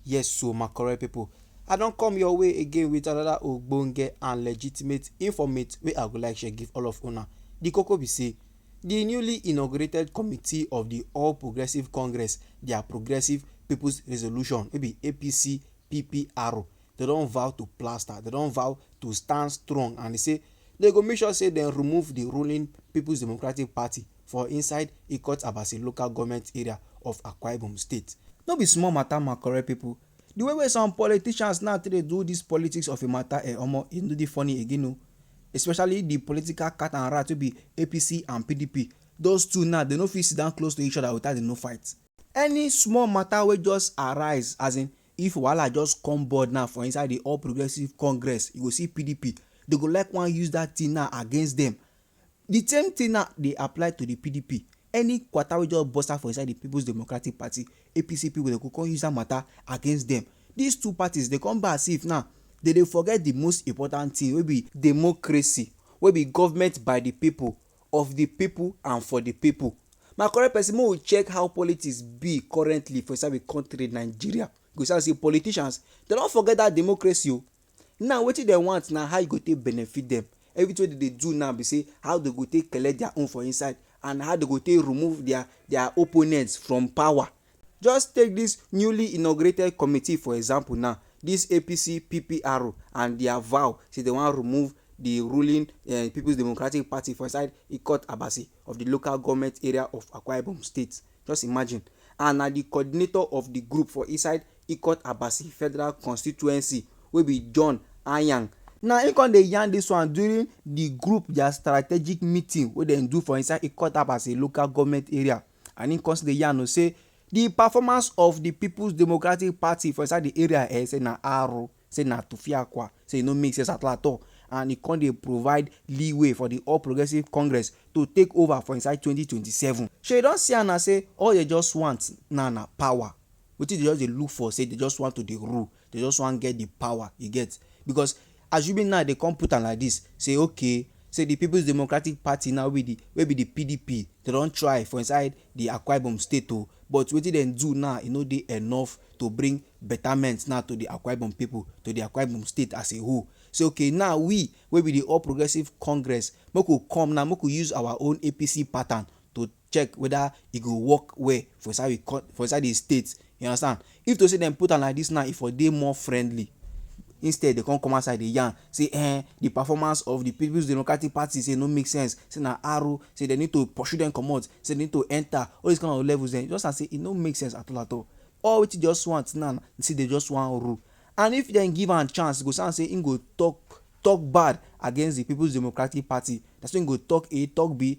Yes so my correct people, I don come your way again with another ogbonge and legitimate informate wey I go like share give all of una. The koko be say, the newly inaugurated committee of the All Progressive Congress, their Progressive People's Resolution wey be APC PPR, they don vow to plaster, they don vow to stand strong and they say they go make sure say they remove the ruling People's Democratic Party for inside Ikot-Abasi local goment area of Akwa Ibom state. No be small matter ma correct people, the way wey some politicians now take dey do this politics of a matter eh omo e no dey funny again o especially the political cat and rat wey be APC and PDP those two now dem no fit sit down close to each other without dem no fight. Any small matter wey just arise as in if wahala just come board now for inside the All Progressives Congress you go see PDP dem go like wan use that thing now against dem Di same tin now dey apply to di pdp, any kwata wey just burst out for inside di Peoples Democratic Party, APC, pipo dem go come use dat mata against dem. Dis two parties dey come be as if now dem dey forget di most important tin wey be democracy, wey be govment by di pipo, of di pipo and for di pipo. My correct pesin make we check how politics be currently for inside we kontri Nigeria, you go see am sey politicians dem don forget dat democracy o. Now wetin dem want na how e go take benefit dem. Everything wey dem dey do now be sey how dem go take collect their own for inside and how dem go take remove their their opponent from power. Just take dis newly inaugurated committee for example now, dis APC PPR and their vow sey dem wan remove de ruling um Peoples Democratic Party for inside Ikot Abasi of de local government area of Akwa Ibom state. Just imagine, and na di coordinator of di group for inside Ikot Abasi Federal Constituency wey be John Anyang, na im come dey yarn dis one during di group dia strategic meeting wey dem do for inside Ikot Abasi local government area and im come still dey yarn o say di performance of di Peoples Democratic Party for inside di area eh say na aru. say na Tufiakwa, say e no make sense at all at all and e come dey provide leeway for di All Progressives Congress to take over for inside twenty twenty seven. Shey you don see am na say all dem just want now na power, wetin dem just dey look for say dem just want to dey rule, dem just want get di power you get because assuming now dem come put am like dis say okay say di Peoples Democratic Party now wey be di wey be di PDP dem don try for inside di Akwa Ibom state o but wetin dem do now e no dey enough to bring betterment now to di Akwa Ibom people to di Akwa Ibom state as a whole say ok now we wey be di all progressive congress make we come now make we use our own APC pattern to check weda e go work well for inside we for inside di state You understand? If to sey dem put am like dis now, e for dey more friendly. Instead dem come come outside dey yarn sey um de performance of de Peoples Democratic Party sey e no make sense, sey na aro, sey dem need to pursue dem comot, sey dem need to enter. All dis kind of levels dem, you just understand sey e no make sense at all at all. All wetin dey just want now na sey dem just wan rule. And if dem give am chance, e go sound sey im go talk talk bad against de Peoples Democratic Party. Na so im go talk A, talk B,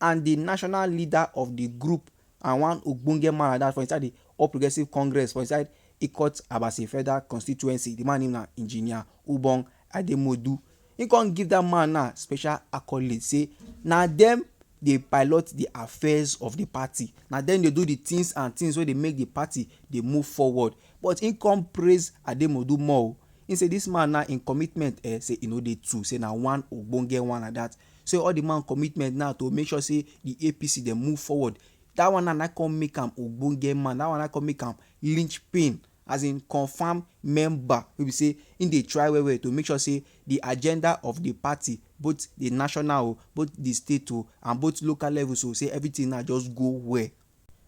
and di national leader of di group and one ogbonge man like dat for inside di All Progressives Congress for inside Ikot Abasi Federal Constituency, di man name na Engineer Ubong Ademodu, im come give dat man now special accolade say na dem dey pilot di affairs of di party, na dem dey do di tins and tins wey dey make di party dey move forward but im come praise Ademodu more o, im say dis man now im commitment um say e no dey two, say na one ogbonge one like dat. So all the man commitment now to make sure say the APC dem move forward. That one now na come make am ogbonge man. That one na come make am linchpin as in confirm member wey be say im dey try well well to make sure say the agenda of the party both the national o, both the state o and both local levels o say everything now just go well.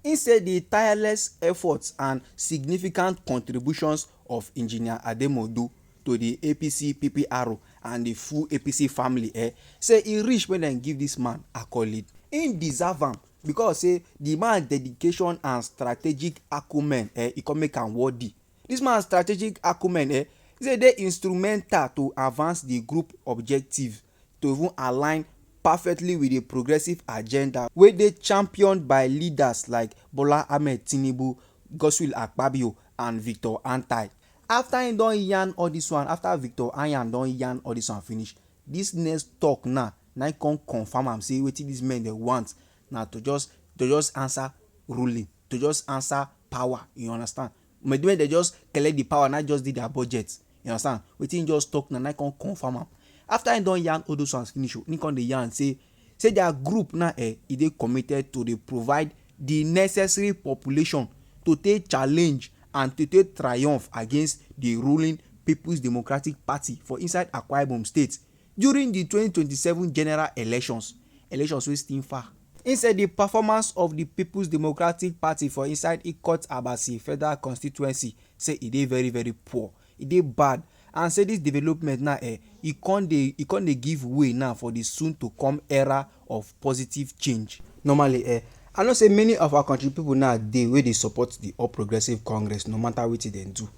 Im say di tireless efforts and significant contributions of Engineer Ademodu to di APC PPRO and di full APC family eh say e reach make dem give dis man accolade. Im deserve am because say di man dedication and strategic acumen eh e come make am worthy. Dis man strategic acumen eh say e dey instrumental to advance di group objectives to even align perfectly wit di progressive agenda wey dey championed by leaders like Bola Ahmed Tinubu, Godswill Akpabio and Victor Antai. Afta im don yarn all dis one, afta Victor Anyan don yarn all dis one finish, dis next tok now na im come confam am say wetin dis men dem want na to just to just ansa ruling, to just ansa power, you understand. Wen dem just collect di pawa, na im just dey dia budget. You understand? Wetin im just tok na, na im come confirm am. Afta im don yarn all dose ones finish, im come dey yarn say say dia group na um e dey committed to dey provide di necessary population to take challenge and to take triumph against di ruling Peoples Democratic Party for inside Akwa Ibom State during di twenty twenty seven general elections, elections wey still far. Im say di performance of di Peoples Democratic Party for inside Ikot Abasi Federal Constituency say e dey very very poor, e dey bad and say dis development now eh e come dey e come dey give way now for di soon to come era of positive change. Normally eh, I know say many of our kontri pipo now dey wey dey support di All Progressives Congress no matter wetin dem do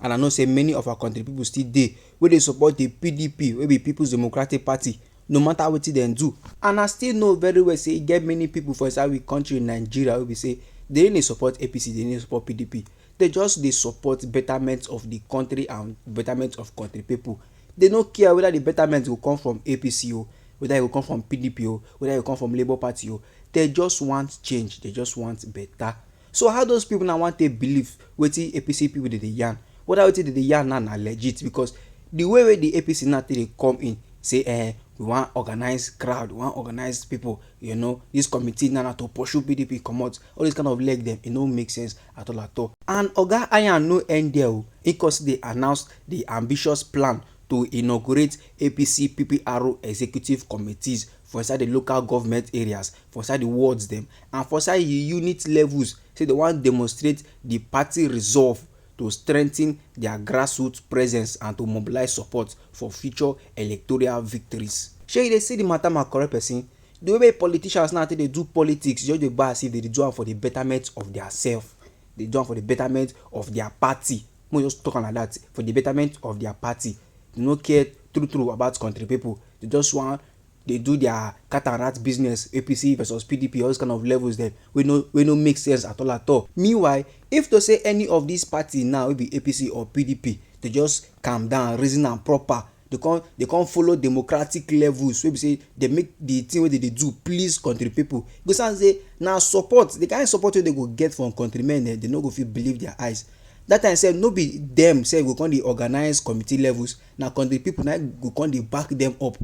and I know say many of our kontri pipo still dey wey dey support di pdp wey be Peoples Democratic Party no matter wetin dem do. And I still know very well say e get many people for inside we country Nigeria wey be say dem no dey support APC, dem no dey support PDP, dem just dey support betterment of the country and betterment of country people. Dem no care whether the betterment go come from APC o, whether e go come from PDP o, whether e go come from Labour Party o, dem just want change, dem just want better. So how those people now want to believe wetin APC people dey dey yarn? Whether wetin dey dey yarn now na legit because the way wey the APC now take dey come in say eh we wan organize crowd, we wan organize people, you know, this committee now na to pursue PDP comot. All those kind of leg dem, e no make sense at all at all. And Oga Iyan no end there o, he come still dey announce the ambitious plan to inaugurate APC PPRO executive committees for inside the local government areas for inside the wards dem and for inside the unit levels say dem wan demonstrate the party resolve to strengthen their grassroots presence and to mobilize support for future electoral victories. Shey you dey see the matter my correct person? The way wey politicians now take dey do politics e just dey be as if dem dey do am for the betterment of their self, dey do am for the betterment of their party, make we just talk am like that, for the betterment of their party, dem no care true true about country people, dem just wan dey do their cat and rat business, APC versus PDP, all those kind of levels dem wey no wey no make sense at all at all. Meanwhile, if to say any of these party now wey be APC or PDP dey just calm down, reason am proper, dey come dey come follow democratic levels wey be say dey make the thing wey dey dey do please country people, e go see am say na support, the kind support wey dey go get from country men dem, dey no go fit believe their eyes. That time sef no be dem sef go come dey organize committee levels. Na kontri pipo na im go come dey back dem up.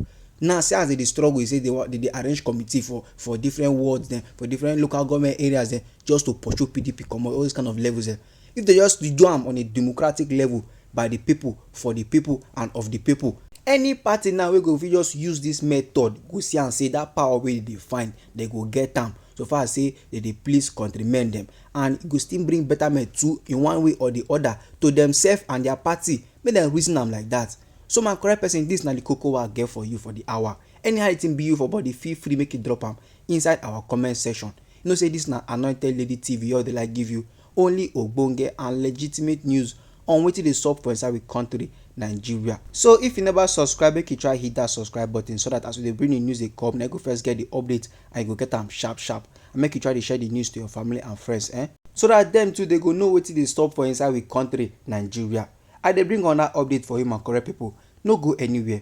Now, see as dem dey struggle, dey say dey wan, dey dey arrange committee for for different wards dem, for different local government areas dem, just to pursue pdp comot, all those kind of levels dem. If dem just dey do am on a democratic level, by di pipo, for di pipo and of di pipo, any party now wey go fit just use dis method go see am say dat power wey dem dey find, dem go get am, so far as say dem dey please kontri-men dem. And e go still bring betterment too, in one way or di oda, to demsef and dia party. Make dem reason am like dat. So my correct person dis na the koko wey I get for you for the hour. Anyhow the thing be you for body feel free make you drop am inside our comment section. You know say dis na Anointed Lady TV wey we dey like give you only ogbonge and legitimate news on wetin dey sup for inside we country Nigeria. So if you never subscribe make you try hit dat subscribe button so dat as we dey bring the news dey come na you go first get the update and you go get am sharp sharp and make you try dey share the news to your family and friends eh so that dem too dey go know wetin dey stop for inside we country Nigeria I dey bring una update for you my correct people no go anywhere.